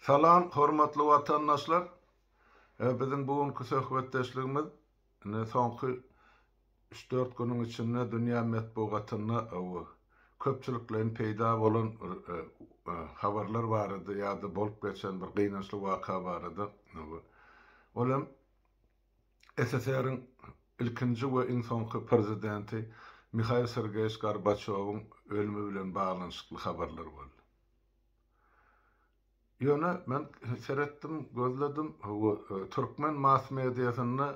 Salam hormatly watandaşlar. Biziň bu günki söhbetdeşligimiz indi soňky üç dört günüň içinde dünýä metbugatynda köpçülikleýin peýda bolan habarlar barada ýa-da bolup geçen bir gynançly waka barada. Ol hem SSR-iň ilkinji we iň soňky Prezidenti Mihail Sergeýewiç Gorbaçýowyň ölümi bilen baglanyşykly habarlar boldy. Ýöne men seretdim, gözledim, bu türkmen mass-mediasynda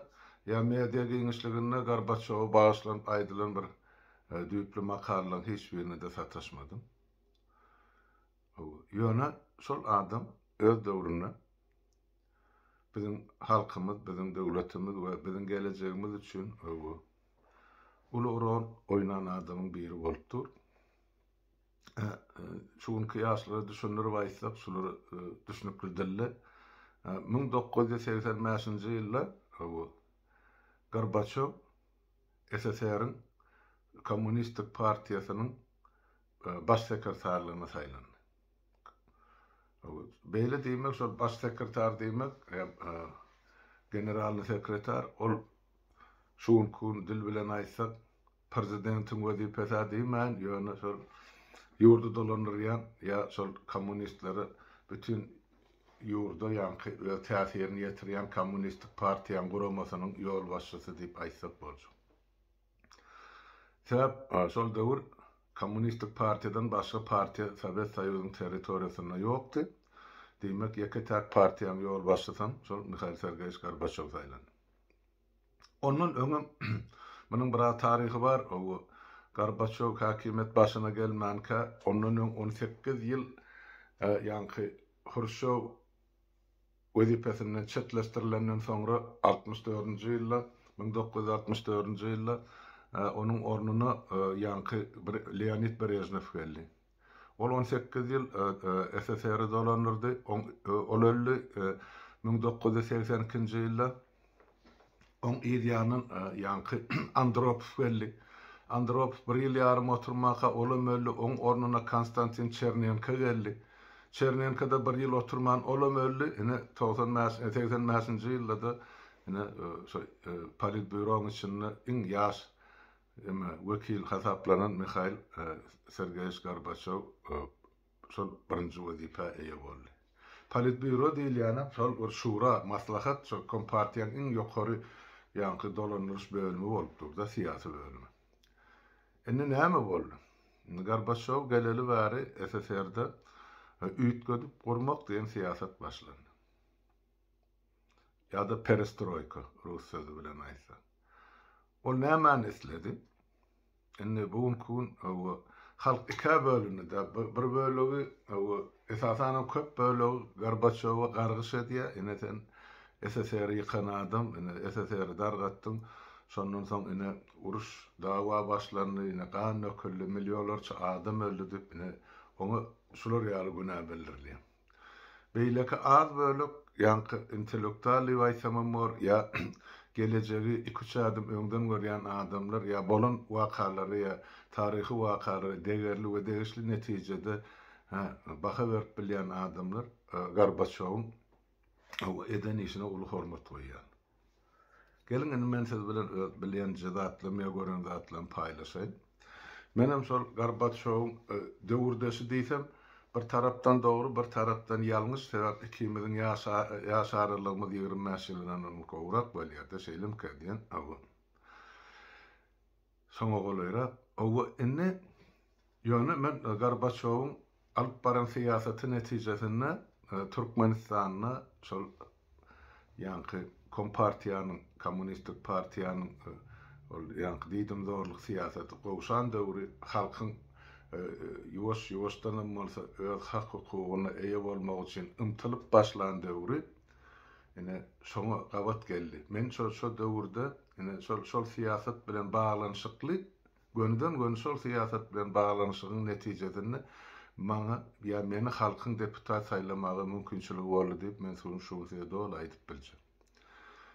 ýa media giňişliginde Gorbaçýowa bagyşlanyp aýdylan bir düýpli makalalaryň hiç birine-de sataşmadym. Ýöne şol adam öz döwründe Biziň halkymyz, biziň döwletimiz we biziň gelejegimiz üçin öwgi, uly rol oýnan adamyň biri bolup dur. Şu günki ýaşlara düşündirip aýtsak, şulary düşnükli dilde, müň dokuz ýüz segsen bäşinji ýylda öwgi, Gorbaçýow SSR-iň Kommunistik partiýasynyň Baş sekretarlygyna saýlandy. Beýle diýmek, şol baş sekretar diýmek hem generalnyý sekretar, ol şu günki gün dil bilen aýtsak, prezidentiň wezipesi-ä diýmän, ýöne şol ýurdy dolandyrýan ýa şol kommunistlere bütin ýurda ýaňky öz täsirini ýetirýän kommunistik partiýaň guramasynyň ýolbaşçysy diýip aýtsak boljak. Sebäp şol döwür Kommunistik partiýadan başga partiýa Sowet Soýuzynyň territoriýasynda ýokdy. Diýmek, ýeke-täk partiýanyň ýolbaşçysam şol Mihail Sergeýewiç Gorbaçýow saýlandy. Ondan öňem munuň biraz taryhy bar. Gorbaçýow häkimiýet başyna gelmänkä, ondan öň on sekiz ýyl ýaňky Hruşýow wezipesinden çetleşdirilenden soňra altmyş dördünji ýylda, müň dokuz ýüz altmyş dördünji ýylda onuň ornuna ýaňky Leonid Brežnew geldi. Ol on sekiz ýyl SSR-i dolandyrdy, ol öldi müň dokuz ýüz segsen ikinji ýylda. Oň yz ýanyndan ýaňky Andropow geldi. Andropow bir ýyl ýarym oturmanka, olam öldi, oň ornuna Konstantin Çernenko geldi. Çernenko-da bir ýyl oturman, olam öldi. Ine, togsan bäş, segsen bäşinji ýylda-da ine, şo Politbýuroň içinde iň ýaş eme, wekil hasaplanan Mihail Sergeýewiç Gorbaçýow şol birinji wezipä eýe boldy. Politbýuro diýilýänem şol bir şura, maslahat, şol kompartiýaň iň ýokary ýaňky dolandyryş bölümi bolup dur-da, syýasy bölümi. Indi näme boldy? Indi Gorbaçýow geleli bäri SSR-de üýtgedip gurmak diýen syýasat başlandy. Ýa-da perestroýka, rus sözi bilen aýtsak. Ol nämäni isledi? Indi bu günki gün hawa halk ikä bölündi da bir bölegi hawa esasanam köp bölegi Gorbaçowa gargyş edýär ine sen SSR ýykan adam ine SSR dargatdyň şondan soň ine uruş dawa başlandy ine gan döküldi milýolarça adam öldi diýip ine oňa şular ýaly günä bildirilýär. Beýleki az bölek ýaňky intellektual diýip aýsamam bor, ýa gelejegi iki-üç adym öňden görýän adamlar ýa bolan wakalary ýa taryhy wakalary degerli we degişli netijede baha berip bilýän adamlar Gorbaçýowyň eden işine uly hormat goýýan. Geliň indi men siz bilen öz bilýän jzatlarym ýa gören zatlarym paýlaşaýyn. Menem şol Gorbaçýowyň döwürdeşi diýsem bir tarapdan dogry bir tarapdan ýalňyş sebäp ikimiziň ýaş ýaş aralygymyz ýigrimi bäş ýyldanam gowrak bolýada şeýlemkä diýen awa. Soňa golaýrak, Owo, indi, ýöne men Gorbaçýowyň alyp baran syýasaty netijesinde Türkmenistanda şol ýaňky kompartiýanyň, kommunistik partiýanyň ol ýaňky diýdimzorlyk syýasaty gowşan döwri halkyň ýuwaş-ýuwaşdanam bolsa öz hak-hukugyna eýe bolmagy üçin ymtylyp başlan döwri ine şoňa gabat geldi. Men şo döwürde Ine, şol, şol syýasat bilen baglanyşykly, gönüden-göni şol syýasat bilen baglanyşygyň netijesinde maňa ýa meni halkyň deputat saýlamaga mümkinçiligi boldy diýip, men suny şu gün size doly aýdyp biljek.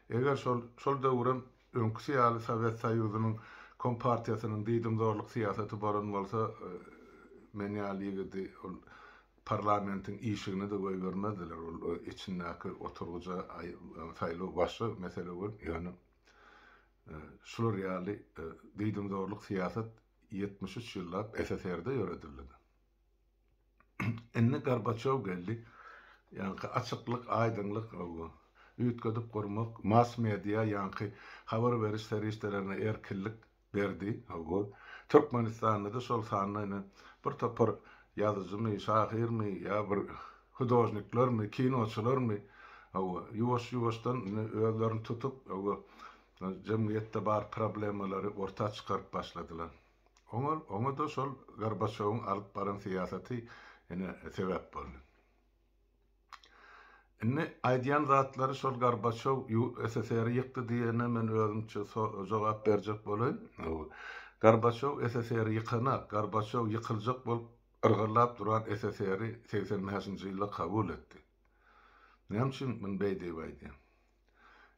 Eger şol, şol döwrem öňküsi ýaly Sowet Soýuzynyň kompartiýasynyň diýdimzorluk syýasaty bolan bolsa, men ýaly ýigidi ol Parlamentiň işigini-de goýbermezdiler, ol içindäki oturgyja saýlaw başga mesele bolup, ýöne şular ýaly diýdimzorluk syýasat ýetmiş üç ýyllap SSR-de ýöredildi-de. Indi Gorbaçýow geldi, ýaňky açyklyk, aýdyňlyk, üýtgedip gurmak, mass-media, ýaňky habar beriş serişdelerine erkinlik, Berdi, hawa. Türkmenistanda-da şol sanda ine, bir topar ýazyjymy, şahyrmy ýa bir hudožniklermi, kinoçylarmy, hawa, ýuwaş-ýuwaşdan indi özlerini tutup, hawa, jemgyýetde bar problemalary orta çykaryp başladylar. Oňa, oňa-da şol Gorbaçýowyň alyp baran syýasaty ine sebäp boldy. Indi aýdýan zatlary şol Gorbaçow SSR-i ýykdy diýene men özümçe jogap berjek bolaýyn. Gorbaçow SSR-i ýykanak, Gorbaçow ýykyljak bolup yrgyllap duran SSR-i segsen bäşinji ýylda kabul etdi. Näme üçin muny beý diýip aýdýan?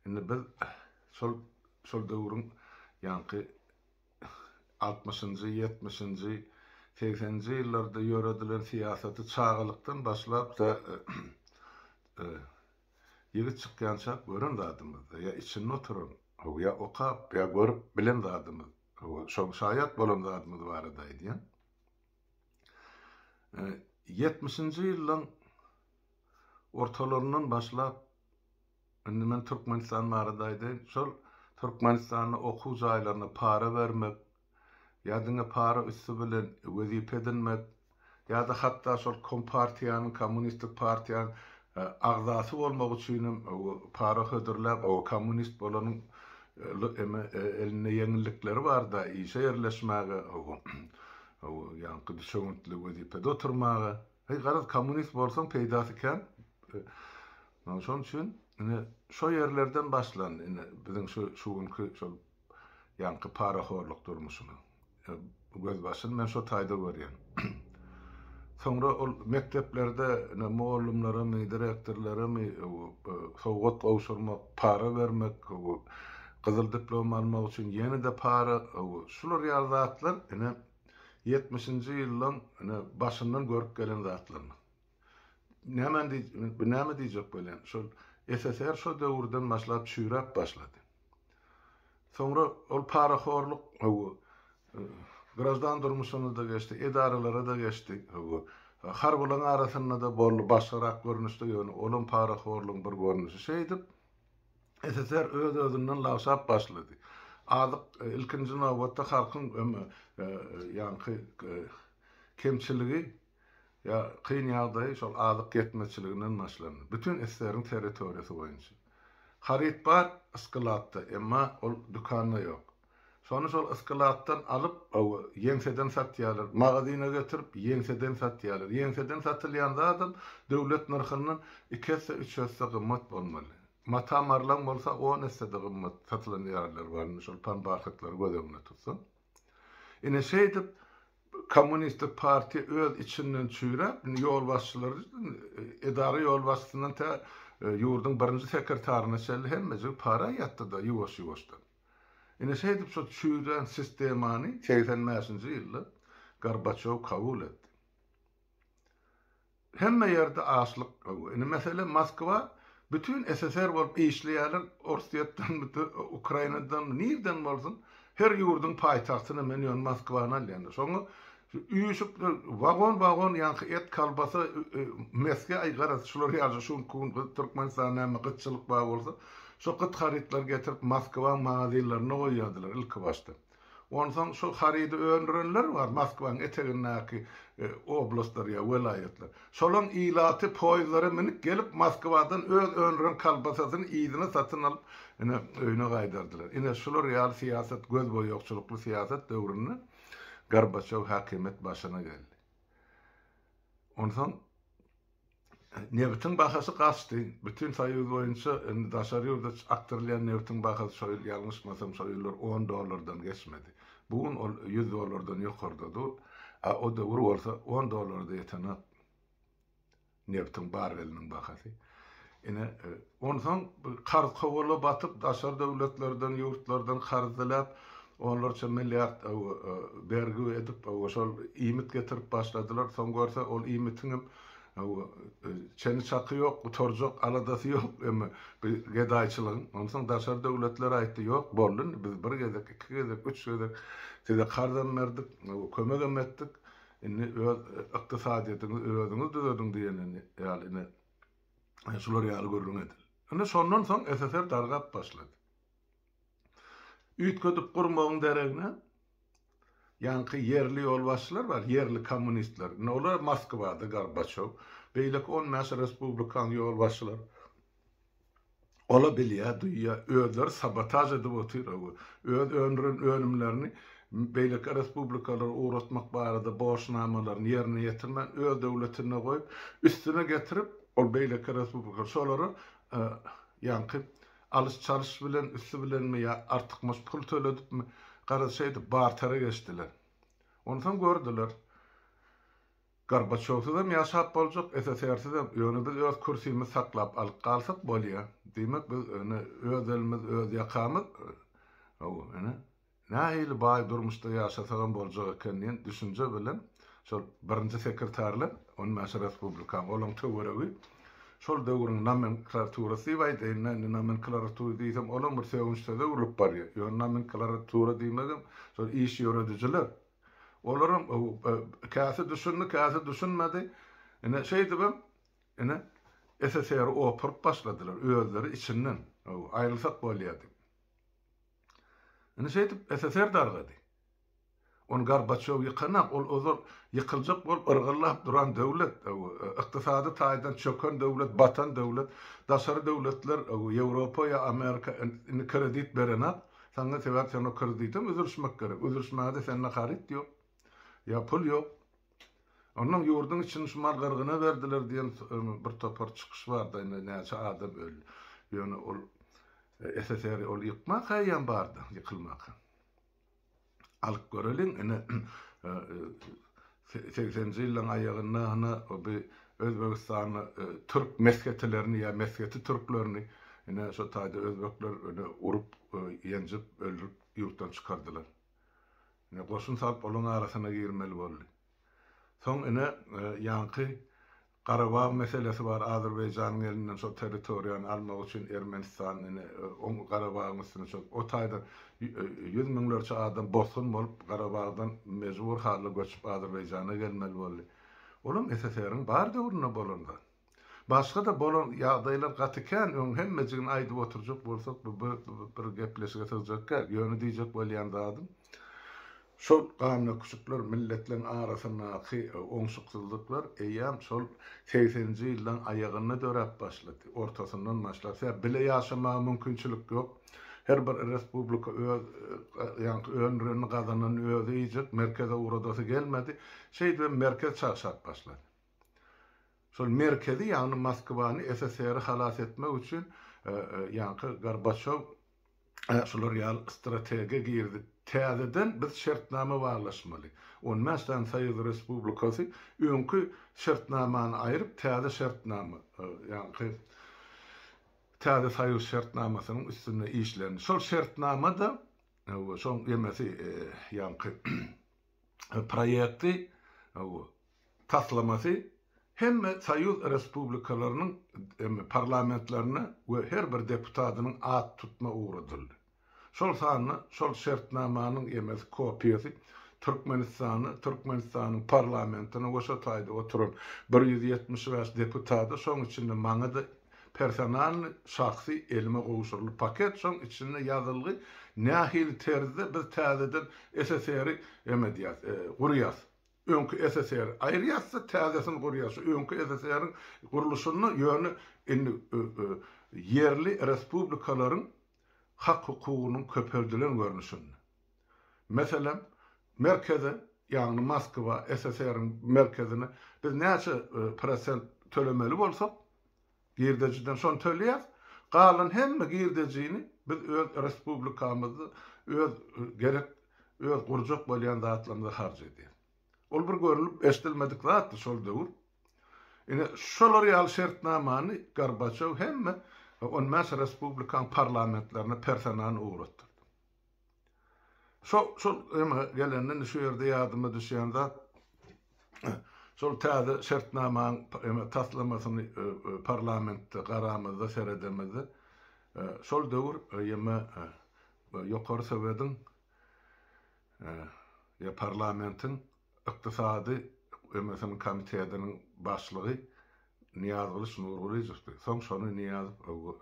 Indi biz şol döwrüň ýaňky altmyşynjy, ýetmişinji, segseninji ýyllarda ýöredilen syýasaty çagalykdan başlap-da ýigit çykýançak gören zadymyzdy, ýa içinde oturan, ýa okap, ýa görüp bilen zadymyz, şoň şaýat bolan zadymyz barada aýdýan. Ýetmişinji ýyllaň ortalaryndan başlap, Indi men Türkmenistan barada aýdaýyn. Şol Türkmenistanda okuw jaýlarynda para bermek, ýa diňe para üsti bilen wezipe edinmek, ýa-da hatda şol kompartiýanyň, kommunistik partiýanyň agzasy bolmak üçin hem para hödürläp, kommunist bolanyň elinde ýeňillikleri barda, işe ýerleşmäge, ýaňky düşewüntli wezipede oturmaga. Heý garaz kommunist bolsaň peýdasy kän. Maňa şonuň üçin ine şo ýerlerden başlandy ine biziň şu şu günki şol ýaňky parahorlyk durmuşymyz. Gözbaşyny men şo taýda görýän. Soňra ol mekdeplerde ine mugallymlaramy, direktorlaramy sowgat gowşurmak, para bermek, gyzyl diplom almak üçin ýene-de para, şular ýaly zatlar ine ýetmişinji ýyllaryň ine başyndan görüp gelen zatlaryny. Nämäni diý, bir näme diýjek bolýan, şol SSR şo döwürden başlap çüýräp başlady. Soňra ol parahorluk hawa, graždan durmuşyna-da geçdi, edaralara-da geçdi, hawa, harbylaryň arasynda-da boldy, başgarak görnüşde, ýöne olam parahorlugyň bir görnüşi. Şeýdip, SSR öz-özünden lagşap başlady. Azyk, ilkinji nobatda, halkyň ýaňky kemçiligi, kyn ýagdaýy şol azyk ýetmezçiliginden başlandy. Bütin SSR-iň territoriýasy boýunça. Haryt bar, sklad-da, emma ol dükanda ýok. Şony şol ysklatdan alyp, ýeňseden satýarlar. Magazyna getirip, ýeňseden satýarlar. Ýeňseden satylýan zadam döwlet nyrhyndan iki esse, üç esse gymmat bolmaly. Mata marlaň bolsa, on esse-de gymmat satylan ýerler bar, indi şol panbarhatlary göz öňünde tutsaň. Ine, şeýdip, Kommunistik partiýa öz içinden çüýräp, indi ýolbaşçylary, edara ýolbaşçysyndan tä ýurduň birinji sekretaryna çenli hemmejigi para ýatdy-da, ýuwaş-ýuwaşdan. Ine şeýdip şo çüýrän sistemany segsen bäşinji ýylda Gorbaçýow kabul etdi. Hemme ýerde açlyk gowy. Indi mesele Moskwa bütin SSR bolup işleýärler Orsýetden bütin Ukrainadan nirden bolsun her ýurdyň paýtagtyny men ýöne Moskwany alýan. Şoňa Şu üýşüp wagon wagon ýaňky et kolbasa mesge aý garaz şular ýaly şu günki gün gyt Türkmenistana näme gytçylyk bar bolsa şo gyt harytlary getirip Moskwaň magazinlerinde goýýadylar ilki başda onsoň şo harydy öndürenler bar Moskwaň etegindäki oblastlar ýa welaýatlar şolaň ilaty poýzlara minip gelip Moskwadan öz öndüren kolbasasyny yzyna satyn alyp ine öýüne gaýdardylar ine şular ýaly syýasat gözboýagçylykly syýasat döwründe Gorbaçow häkimiýet başyna geldi. Onsoň nebitiň bahasy gaçdy. Bütin Soýuz boýunça indi daşary ýurda akdyrylýan nebitiň bahasy şo ýyl ýalňyşmasam şo ýyllar on dollardan geçmedi. Bu gün ol ýüz dollardan ýokarda dur. A o döwür bolsa on dollara-da ýetenok. Nebtiň barreliniň bahasy. Ine, onsoň karz kowala batyp, daşary döwletlerden, ýurtlardan karz diläp, onlarça milliard bergi edip, şol iýmit getirip başladylar. Soň görse, ol iýmitiň hem çeni-çaky ýok, gutarjak aladasy ýok emme bu gedaýçylygyň. Onsoň daşary döwletler aýtdy, Ýok, boldy indi, biz bir gezek, iki gezek, üç gezek size karzam berdik, kömegem etdik. Indi öz ykdysadyýetiňizi özüňiz düzediň diýeniň ýaly ine şular ýaly gürrüň edil. Indi şondan soň SSR dargap başlady. Üýtgedip gurmagyň deregine ýaňky ýerli ýolbaşçylar bar, ýerli kommunistler. Indi olar Moskwada Gorbaçow, beýleki on bäş respublikanyň ýolbaşçylary. Ola bilýä, duýýa, özleri sabotaž edip otyragu, öz öndüren önümlerini beýleki respublikalara ugratmak barada borçnamalaryny ýerine ýetirmän, öz döwletinde goýup, üstüne getirip, ol beýleki respublika şolara ýaňky alyş-çalyş bilen, üsti bilenmi ýa artykmaç pul töledipmi, garaz, şeýdip bartera geçdiler. Onsoň gördüler. Gorbaçowsyzam ýaşap boljak, SSR-sizem, ýöne biz öz kürsimizi saklap alyp galsak bolýa. Diýmek biz ine öz elimiz öz ýakamyz haw ine nähili baý durmuşda ýaşasagam boljak eken diýen düşünje bilen şol birinji sekretarlar on bäş respublikaň olaň töweregi şol döwrüň nomenklaturasy diýip aýdaýyn men indi nomenklaruty diýsem olam bir sögünçsöze öwrülip barýa ýöne nomenklaratura diýmegem şol iş ýöredijiler Olaram käsi düşündi, käsi düşünmedi. Ine, şeýdibem, ine, SSR-i opuryp başladylar, özleri içinden, hawa, aýrylsak bolýar diýip. Ine, şeýdip, SSR dargady. Ony Gorbaçýow ýykanok, ol ozal ýykyljak bolup yrgyllap duran döwlet, hawa, ykdysady taýdan çöken döwlet, batan döwlet, daşary döwletler, hawa, Ýewropa ýa Amerika indi kredit berenak, Saňa sebäp sen o kredite üzülişmek gerek. Üzülişmäge-de sende haryt ýok. Ýa pul ýok. Onnoň ýurduň içini şumal gyrgyna berdiler diýen bir topar çykyş bardy. Indi näçe adam öldi. Ýöne ol SSR-i ol ýykmak eýýäm bardy, ýykylmak. Alyp göreliň ine Segsenji ýyllaryň aýagynda hany bi Özbegistanly türk mesgetilerini ýa mesgeti türklerini ine şo taýda özbekler ine urup, ýenjip, öldürip ýurtdan çykardylar. Ine goşun salyp olaryň arasyna girmeli boldy. Soň ine ýaňky Garabag meselesi bar Azerbaýjanyň elinden şol territoriýany almak üçin Ermenistan ine oň Garabagyň üstüne çök o taýdan ýüz müňlerçe adam bosgun bolup Garabagdan mejbur halda göçüp Azerbaýjana gelmeli boldy olam SSR-iň bar döwründe bolan zat başgada bolan ýagdaýlar gaty kän öň hemmejigini aýdyp oturjak bolsak bu bir gepleşige sygjak däl ýöne diýjek bolýan zadym Şol gandöküşikler, milletleriň arasyndaky oňşuksyzlyklar eýýäm şol segseninji ýyllaryň aýagynda döräp başlady, ortasyndan başlasa, bile ýaşamaga mümkinçilik ýok. Her bir respublika öz öndürenini, gazananyny özi iýjek, merkeze ugradasy gelmedi. Şeýdip hem merkez çagşap başlady. Şol merkezi, ýagny Moskwany, SSR-i halas etmek üçin ýaňky Gorbaçýow Ä şular ýaly strategiýa girdik. Täzeden biz şertnama baglaşmaly. On bäş sany soýuz respublikasy öňki şertnamany aýryp, täze şertnama, ýaňky täze soýuz şertnamasynyň üstünde işlendi. Şol şertnama-da, hawa, şoň ýemesi, ýaňky, proýekti, taslamasy hemme soýuz respublikalarynyň parlamentlerine we her bir deputatynyň at tutma ugradyldy. Şol sanda şol şertnamanyň ýemesi kopiýasy Türkmenistana, Türkmenistanyň parlamentine we şo taýda oturan bir ýüz ýetmiş bäş deputada, şoň içinde maňa-da Personalny, şahsy, elime gowşuryly paket, şoň içinde ýazylgy, nähili terzde biz täzeden SSR-i emedýäs, gurýas. Öňki SSR-i aýyrýas-da, täzesini gurýas. Şu öňki SSR-iň gurluşyny ýöne indi ýerli respublikalaryň hak-hukugynyň köpeldilen görnüşinde. Meselem, merkeze, ýagny Moskwa, SSR-iň merkezine biz näçe prosent tölemeli bolsak, girdejiden şony töleýäs, galan hemme girdejini biz öz respublikamyzda öz gerek öz gurjak bolýan zatlarymyza harç edýäs. Ol bir görlüp eşidilmedik zatdy şol döwür. Ine, şolar ýaly şertnamany Gorbaçýow hemme on bäş respublikaň parlamentlerine personalny ugratdyrdy. Şo şol eme gelende indi şu ýerde ýadyma düşýän zat şol täze şertnamanyň eme taslamasyny parlamentde garamyzda seredemizde şol döwür eme ýokary sowediň ýa parlamentiň Ykdysady MSM-niň komitetiniň başlygy Nyýazgylyç Nurgylyjowdy. Soň şony Nyýazow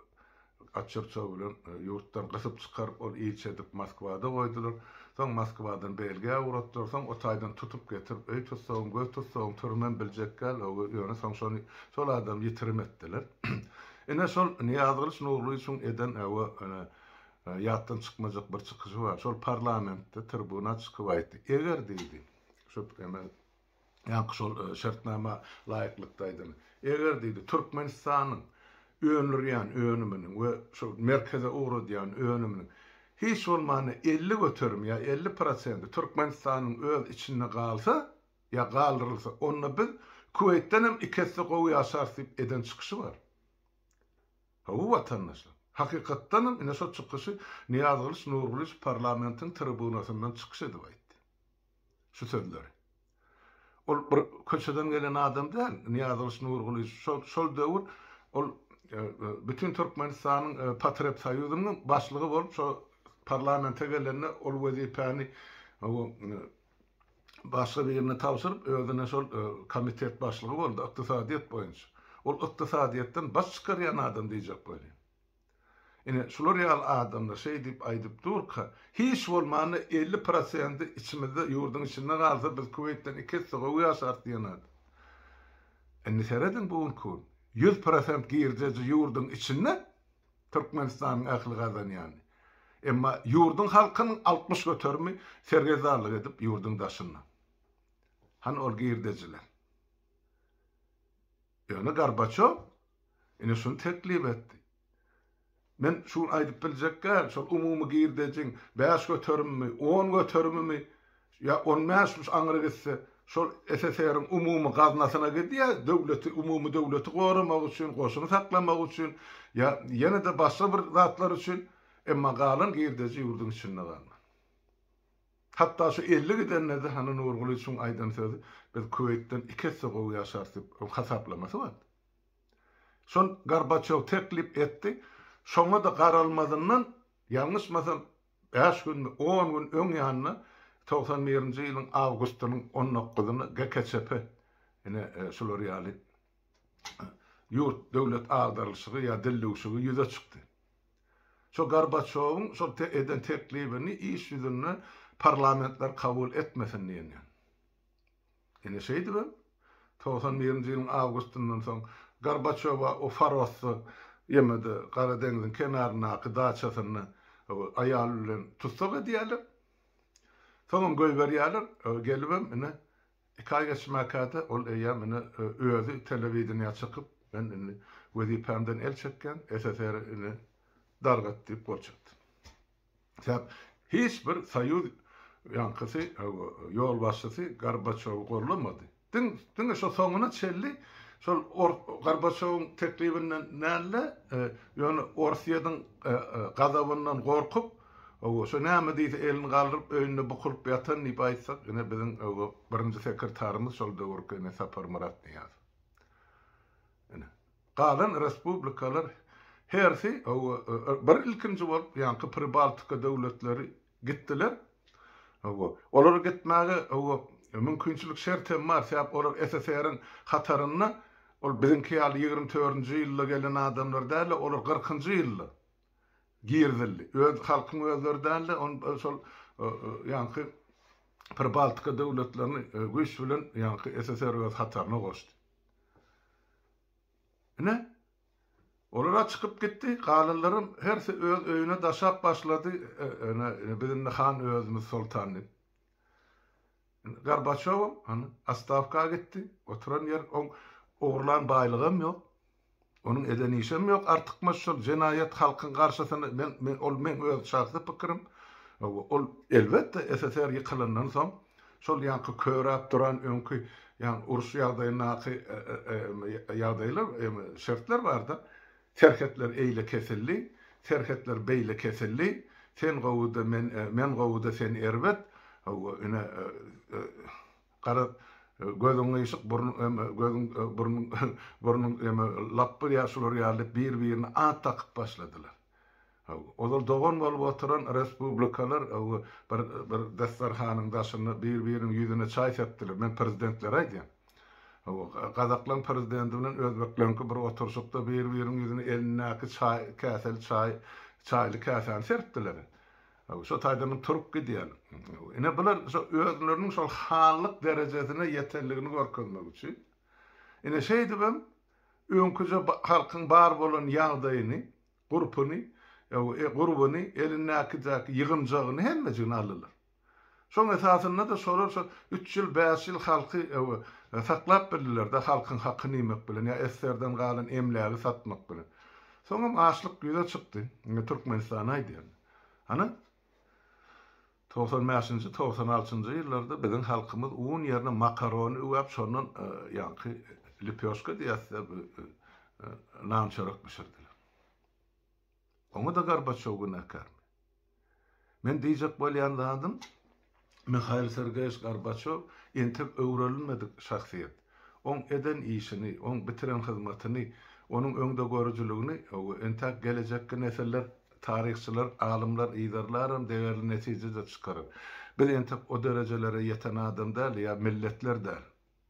Atçyrçow bilen ýurtdan gysyp çykaryp, ol ilçi edip Moskwada goýdular. Soň Moskwadan Belgiýa ugratdylar. Soň o taýdan tutup getirip, öý tussagym, göz tussagym, türmem biljek däl, ýöne soň şony, şol adamy ýitirim etdiler. Ine, şol Nyýazgylyç Nurgylyjowyň eden Ýatdan çykmajak bir çykyşy bar. Şol parlamentde tribuna çykyp aýtdy. Eger diýdi, şu emel ýaňky şol şertnama laýyklykda aýdan. Eger diýdi, Türkmenistanyň öndürýän önüminiň we şu merkeze ugradýan önüminiň hiç bolmanda elli göterim ýa elli prosenti Türkmenistanyň öz içinde galsa ýa galdyrylsa, onda biz Kuweýtden hem iki esse gowy ýaşarys diýip eden çykyşy bar. Hawa watandaşlar. Hakykatdanam ine şo çykyşy Nyýazgylyç Nurgylyç parlamentiň tribunasyndan çykyş edip aýtdy. Şu sözleri. Ol bir köçeden gelen adam däl Nyýazgylyç Nurgylyç şol şol döwür ol bütin Türkmenistanyň Patrepsoýuzynyň başlygy bolup şo parlamente gelende ol wezipäni başga birine tabşyryp, özüne şol komitet başlygy boldy, ykdysadyýet boýunça. Ol ykdysadyýetden baş çykarýan adam diýjek bolýar. Ine, şular ýaly adamlar şeý diýip aýdyp durka, hiç bolmanda elli prosenti içimizde, ýurduň içinde galsa, biz Kuweýtden iki esse gowy ýaşarys diýen adam. Indi serediň, bu günki gün ýüz prosent girdeji ýurduň içinde, Türkmenistanyň ähli gazanýan, emma ýurduň halkynyň altmyş göterimi sergezdarlyk edip ýurduň daşynda. Hany ol girdejiler? Ýöne Gorbaçow ine şuny teklip etdi. Men şu gün aýdyp biljek däl, şol umumy girdejiň bäş göterimimi, on göterimimi Ýa on bäş müş aňry gitse, şol SSR-iň umumy gaznasyna gidýär, döwleti, umumy döwleti goramak üçin, goşuny saklamak üçin, ýa ýene-de başga bir zatlar üçin, emma galan girdeji ýurduň içinde galmaly. Hatda şu elli gidende-de, hany Nurguly şuň aýdan sözi, biz Kuweýtden iki esse gowy ýaşarys diýip, oň hasaplamasy bardy. Şon Gorbaçýow teklip etdi, şoňa-da garalmazyndan Ýalňyşmasam, bäş günmi, on gün öň ýanyna togsan birinji ýylyň awgustynyň on dokuzyna GKÇP, ine, şular ýaly ýurt, döwlet agdarylyşygy ýa dillüwşigi ýüze çykdy. Şo Gorbaçýowyň şol eden teklibini iş ýüzünde parlamentler kabul etmesin diýen ýaly. Ine şeýdibem, togsan birinji ýylyň awgustyndan soň Gorbaçýowa o Farosda, ýeme-de Gara deňziň kenaryndaky daçasynda aýaly bilen tussag edýärler. Soňam goýberýärler. Gelibem ine, iki aý geçmäkä-de ol eýýäm ine özi telewideniýä çykyp, Men indi wezipämden el çekýän, SSR-i ine dargat diýip gol çekdi. Sebäp hiç bir soýuz ýaňkysy ýolbaşçysy Gorbaçowy gollamady. Diň diňe şo soňuna çelli şol Gorbaçowyň teklibinden nälle ýöne Orsyýediň gazabyndan gorkup owo şo näme diýse elini galdyryp öýünde bukulyp ýatan diýip aýtsak ine biziň owo birinji sekretarymyz şol döwürki ine Saparmyrat Nyýazow. Ine. Galan respublikalar hersi bir ilkinji bolup ýaňky Pribaltika döwletleri gitdiler. Olara gitmäge mümkinçilik şert hem bar, sebäp olar SSR-iň hatarynda ol biziňki ýaly ýigrimi dördünji ýylda gelen adamlar däldi, olar kyrkynjy ýylda girizildi. Öz halkyň özleri däldi, ony şol ýaňky Pribaltika döwletlerini güýç bilen ýaňky SSR öz hataryna goşdy. Ine, olar-a çykyp gitdi, galanlaram hersi öz öýüne daşap başlady, ene, biz indi han özümiz soltan diýip. Gorbaçowam, ene, ostawka gitdi, oturan ýer, oň ogurlan baýlygam ýok, onuň eden işem ýok, artykmaç şol jenaýat halkyň garşysyna, men, ol meň öz şahsy pikirim, ol, elbetde, SSR ýykylandan soň, Şol ýaňky köräp duran öňki ýagny uruş ýagdaýyndaky ýagdaýlar şertler barda, serhetler eýle kesildi, serhetler beýle kesildi, sen gowy-da men men gowy-da sen erbet, hawa ine garaz gözüň gyşyk burnuň gözüň burnuň burnuň lapby ýa şular ýaly diýip bir-birine at dakyp başladylar. Ozal dogan bolup oturan respublikalar bir bir dastarhanyň daşynda bir biriniň ýüzüne çaý sepdiler. Men prezidentlere aýdýan. Gazaklaň prezidenti bilen özbekleňki bir oturşykda bir biriniň ýüzüne elindäki çaý käseli çaý çaýly käsäni serpdiler. Şo taýdan hem turup gidýän. Ine bular şo özleriniň şol hanlyk derejesine ýetenligini görkezmek üçin. Ine şeýdibem öňküje halkyň bar bolan ýagdaýyny Gurpuny, e, gurbuny, elindäkidäki ýygynjagyny hemmejigini aldylar. Şoň esasynda-da şolar şo üç ýyl, bäş ýyl halky, e, e, saklap bildiler-de, halkyň hakyny iýmek bilen ýa esgerden galan emlägi satmak bilen. Soňam açlyk ýüze çykdy. Indi Türkmenistany aýdýan. Ana, Togsan bäşinji, togsan altynjy ýyllarda biziň halkymyz un ýerine makarony üwäp, şondan ýaňky lepioşka diýäs-de, bu nan-çörek bişirdiler. Oňa-da Gorbaçýow günäkärmi? Men diýjek bolýan zadym, Mihail Sergeýewiç Gorbaçýow entek öwrenilmedik şahsyýet. Oň eden işini, oň bitiren hyzmatyny, onuň öňdegörüjiligini we entäk gelejekki nesiller, taryhçylar, alymlar yzarlaram degerli netije-de çykarar. Biz entek o derejelere ýeten adam däl ýa milletler däl.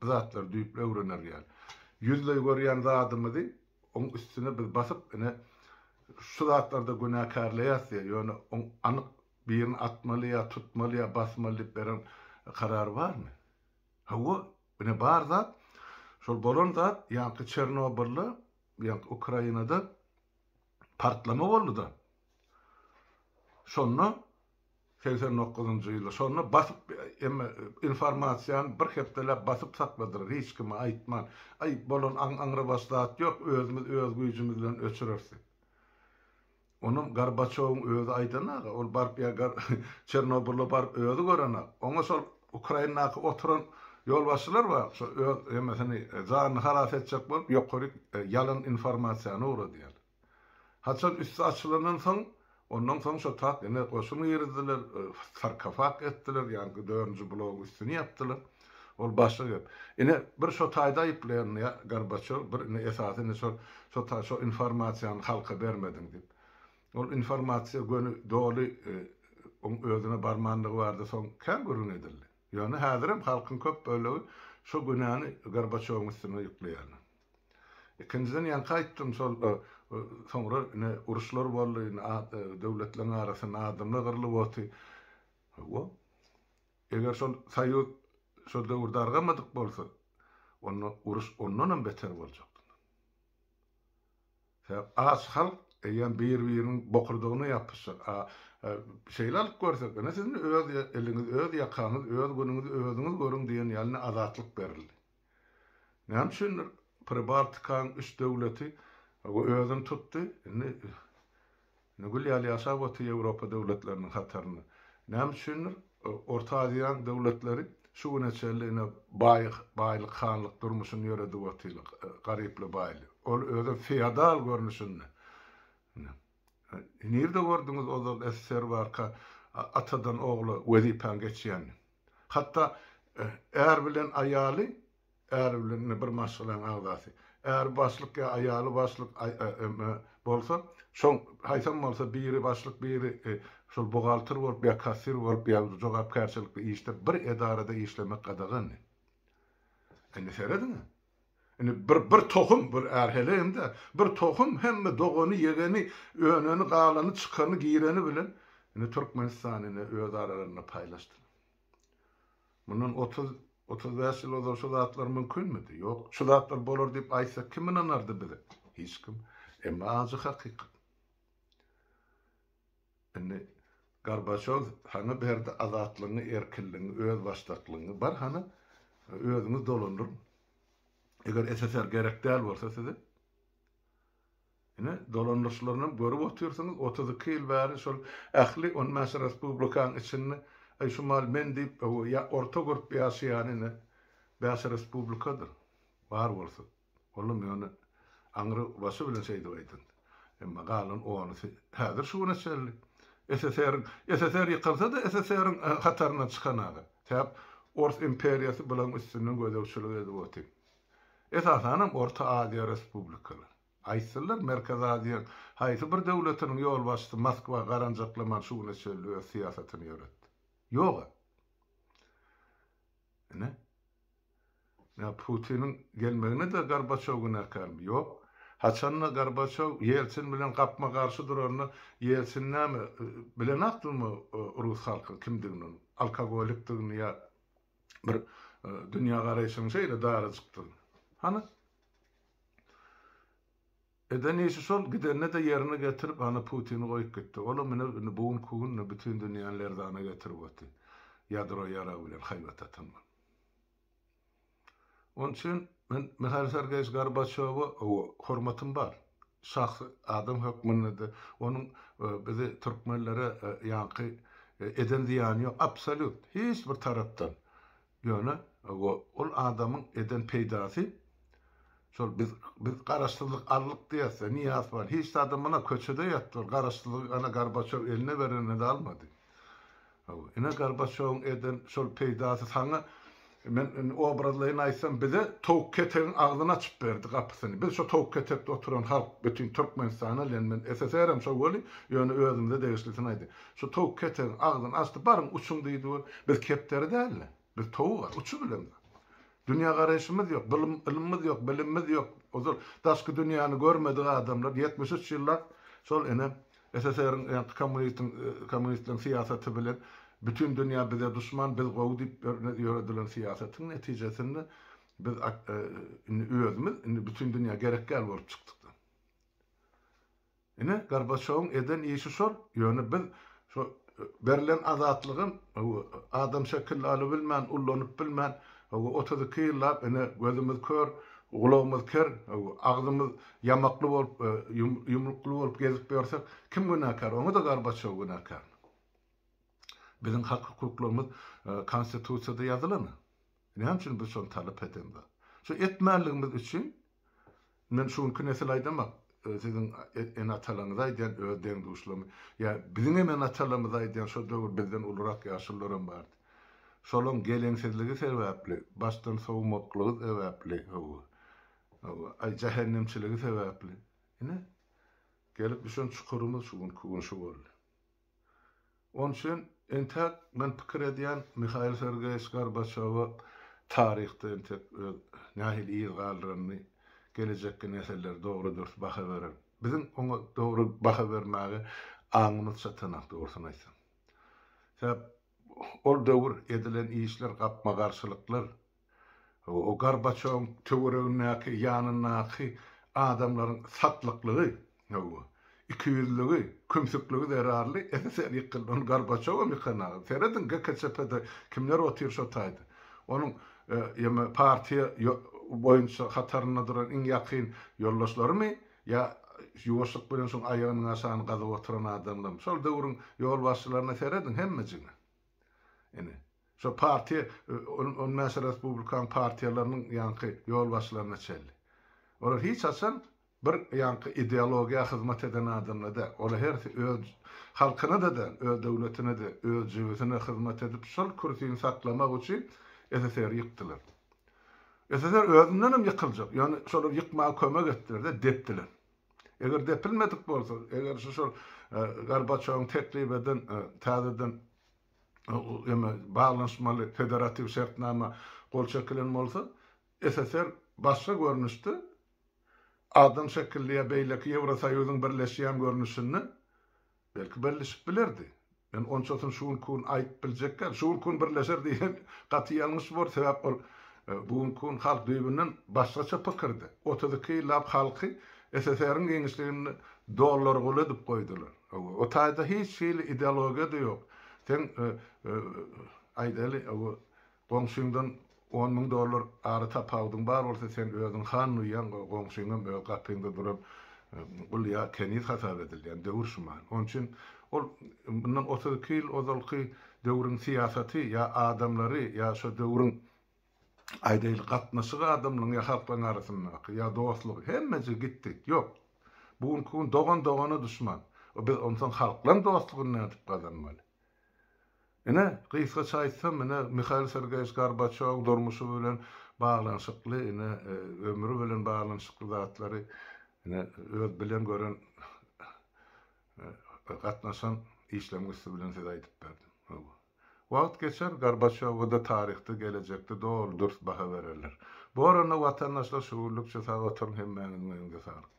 Bu zatlary düýpli öwrener ýaly. Ýüzleý görýän zadymyzy oň üstüne biz basyp, ine, şu zatlarda günäkärleýäs diýýär, ýöne oň anyk birini atmaly ýa tutmaly ýa basmaly diýip beren karary barmy? Hawa, ine bar zat şol bolan zat ýaňky Çernobylda, ýaňky Ukrainada partlama boldy-da. Şonda segsen dokuzynjy ýylda şonda basyp emma informasiýany bir hepdeläp basyp sakladylar hiç kime aýtman. Aý bolan aňrybaş zat ýok özümiz öz güýjümiz bilen öçüreris diýip. Onam Gorbaçowyň özi aýdanaga, ol baryp ýa Çernobyla baryp özi görenak. Oňa şol Ukrainadaky oturan ýolbaşçylar bar, şo öz emesini janyny halas etjek bolup ýokaryk ýalan informasiýany ugradýar. Haçan üsti açylandan soň, ondan soň şo tak ine goşun girizdiler, sarkofag etdiler, ýaňky dördünji blogyň üstüni ýapdylar. Ol başga gep. Ine, bir şo taýda aýyplaýandy-a Gorbaçýow, bir indi esasy indi şol, şo ta şo informasiýany halka bermediň diýip. Ol informasiýa göni doly oň özüne barmandygy barada soň kän gürrüň edildi. Ýöne häzirem halkyň köp bölegi şo günäni Gorbaçýowyň üstüne ýükleýärler. Ikinjiden ýaňky aýtdym şol soňra ine uruşlar boldy, indi döwletleriň arasynda adamlar gyrlyp oty. Hawa. Eger şol soýuz şol döwür dargamadyk bolsa, onda uruş ondanam beter boljakdy. Sebäp aç halk eýýäm bir-biriniň bokurdagyna ýapyşjak. A şeýle alyp görsek, ine siziň öz eliňiz, öz ýakaňyz, öz günüňizi özüňiz görüň diýen ýaly indi azatlyk berildi. Näme üçin Pribaltikaň üç döwleti özüni tutdy, indi indi gül ýaly ýaşap otyr Ýewropa döwletleriniň hatarynda. Näme üçindir, Orta Aziýaň döwletleri şu güne çenli ine baý baýlyk hanlyk durmuşyny ýöredip otyrlar, garyply-baýly. Ol özem feodal görnüşinde. Nirde gördüňiz ozal SSR barka atadan ogla wezipäň geçýänini? Hatda är bilen aýaly, är bilen ine bir maşgalaň agzasy, äri başlyk ýa aýaly başlyk bolsa, şoň haýsam bolsa biri başlyk biri şol buhgalter bolup ýa kassir bolup ýa jogapkärçilikli işde bir edarada işlemek gadagandy. Indi serediň. Indi bir bir tohum, bir är heleýem-dä, bir tohum hemme dogany, ýegeni, öneni, galany, çykany, gireni bilen indi Türkmenistan indi öz aralarynda paýlaşdylar. Mundan otuz, otuz bäş ýyl ozal şu zatlar mümkinmidi? Ýok. Şu zatlar bolar diýip aýtsak kim ynanardy bize? Hiç kim. Emma ajy hakykat. Indi Gorbaçow saňa berdi azatlygyňy, erkinligiňi, özbaşdaklygyňy. Bar hany, özüňiz dolandyryň. Eger SSR gerek däl bolsa size, ine, dolandyryşlaryny hem görüp otyrsyňyz, otuz iki ýyl bäri şol ähli on bäş respublikanyň içinde, aý, şu mal men diýip, orta görüp ýaşaýan ine, bäş respublikadyr, bar bolsa. Olam ýöne aňry başy bilen şeýdip aýdan. Emma galan onusy häzir şu güne çenli SSR-iň, SSR ýykylsa-da SSR-iň hataryndan çykan aga. Täk Ors imperiýasy bulaň üstünden gözegçilik edip oty. Esasanam Orta Aziýa respublikalary. Aýtsynlar Merkezi Aziýaň haýsy bir döwletiniň ýolbaşçysy Moskwa garanjaklaman şu güne çenli öz syýasatyny ýöretdi. Ýog-a. Ine. Ýa Putiniň gelmegine-de Gorbaçow günäkärmi? Ýok. Haçan-da Gorbaçow Ýeltsin bilen gapma-garşy duranda, Ýeltsin näme, bilen-ak durmy rus halkyň kimdigini onuň? Alkogolikdigini ýa bir dünýägaraýşyň şeýle darajykdygyny? Hany? Eden işi şol, gidende-de ýerine getirip, hany Putini goýup gitdi. Ol-a menä indi bu günki günde bütin dünýäni lerzana getirip otdy. Ýadro ýaragy bilen haýbat atan bolup. Onuň üçin men Mihail Sergeýewiç Gorbaçýowa hormatym bar. Şahsy adam hökmünde-de onuň bizi türkmenlere ýaňky eden zyýany ýok, absolýut, hiç bir tarapdan. Ýöne ol adamyň eden peýdasy, şol biz biz garaşsyzlyk aldyk diýýäs-de, Nyýazow bar, hiç zady, muna köçede ýatdylar, garaşsyzlygy ana Gorbaçýow eline bereninde almady. Hawa, ine Gorbaçýowyň eden şol peýdasy saňa, men indi obrazlaýyn aýtsam, bize towuk ketegiň agzyny açyp berdi, gapysyny. Biz şo towuk ketekde oturan halk, bütin Türkmenistana bilen men, SSR-em şo weli, ýöne özümize degişlisini aýdýan. Şo towuk ketegiň agzyny açdy, baryň uçuň diýdi we biz kepderi däl-de, biz towuga, uçup bilemok. Dünýägaraýşymyz ýok, bylym, ylymymyz ýok, bilimimiz ýok. Ozal daşky dünýäni görmedik adamlar ýetmiş üç ýyllap şol ene SSR-iň ýa-da kommunistiň kommunistleň syýasaty bilen bütin dünýä bize duşman, biz gowy diýip ýöredilen syýasatyň netijesinde biz indi özümiz indi bütin dünýä gerek däl bolup çykdyk-da. Ine Gorbaçýowyň eden işi şol, ýöne biz şo Berlen azatlygym adam şekilli alybilmän, ullanyp bilmän, otuz iki ýyllap ine gözümiz kör, gulagymyz ker, agzymyz ýamakly bolup, ýumrukly bolup gezip ýörsek, kim günäkär? Oňa-da Gorbaçow günäkärmi? Biziň hak-hukuklarymyz Konstitusiýada ýazylan. Näme üçin biz şony talap edemzok? Şu etmänligimiz üçin, men şu günki nesil aýdamak, siziň ene-atalaryňyza aýdýan, öz deň-duşlaryma, ýa biziňem ene-atalarymyza aýdýan, şo döwür bizden ulurak ýaşulularam bardy. Şolaň geleňsizligi sebäpli, başdan sowmaklygy sebäpli, hawa, hawa, aý, jähennemçiligi sebäpli, ine, gelip düşen çukurymyz şu günki gün şu boldy. Ol üçin entäk men pikir edýän Mihail Sergeýewiç Gorbaçýowa taryhda entek öz nähili yz galdyranyny gelejekki nesiller dogry dürs baha berer. Biziň oňa dogry baha bermäge aňymyz çatanok dogrusyny aýtsam. Sebäp ol döwür edilen işler gapma-garşylyklar O Gorbaçýowyň töweregindäki, ýanyndaky adamlaryň satlyklygy, ikiýüzlügi, kümsükligi zerarly SSR ýykyldy. Onda Gorbaçýowam ýykanag. Serediň GKÇP-de kimler otyr şo taýda. Onuň ýa-da partiýa boýunça hatarynda duran iň ýakyn ýoldaşlarymy ýa ýuwaşlyk bilen şoň aýagynyň aşagyny gazyp oturan adamlarymy. Şol döwrüň ýolbaşçylaryna serediň hemmejigiňiz. Indi, şo partiýa, on bäş respublikanyň partiýalarynyň ýaňky ýolbaşçylaryna çenli. Olar hiç haçan bir ýaňky ideologiýa hyzmat eden adamlar däl. Olar hersi öz halkyna-da däl, öz döwletine-de, öz jübüsine hyzmat edip, şol kürsini saklamak üçin SSR-i ýykdylar. SSR özündenem ýykyljak, ýöne şolar ýykmaga kömek etdiler-de, depdiler. Eger depilmedik bolsa, eger şu şol Gorbaçýowyň teklip eden täzeden ýa-da baglanyşmaly federatiw şertnama gol çekilen bolsa, SSR başga görnüşde, adam şekilli ýa beýleki Ýewrosoýuzyň birleşýän görnüşinde Belki birlişip bilerdi. Men onçasyny şu günki gün aýdyp biljek däl. Şu günki gün birleşer diýsem gaty ýalňyş bolar. Sebäp ol bu günki gün halk düýbünden başgaça pikirde. Otuz iki ýyllap halky SSR-iň giňişliginde dollar gul edip goýdular. O taýda hiç hili ideologiýa-da ýok. Seň aýdaly Goňşyňdan on müň dollar ara tapawudyň bar bolsa sen özüň han duýýaň, goňşyňam öz gapyňda duran gul ýa keniz hasap edilýän döwür şuman. Oň üçin ol mundan otuz iki ýyl ozalky döwrüň syýasaty ýa adamlary ýa şo döwrüň aýdaýly gatnaşygy adamlaryň ýa halklaryň arasyndaky ýa dostlugy hemmejigi gitdi. Ýok. Bu günki gün dogan dogana duşman. Biz onsoň halklaryň dostlugyny nädip gazanmaly? Ine, gysgaça aýtsam, ine, Mihail Sergeýewiç Gorbaçýowyň durmuşy bilen baglanyşykly, ine, ömri bilen baglanyşykly zatlary, ine, öz bilen gören, gatnaşan işleriň üsti bilen size aýdyp berdim. Hawa. Wagt geçer, Gorbaçýowa-da taryhda, gelejekde doly dürs baha bererler. Bu oranda, watandaşlar, şu günlükçe sag oturyň, hemmäňiziň öýüňize saglyk.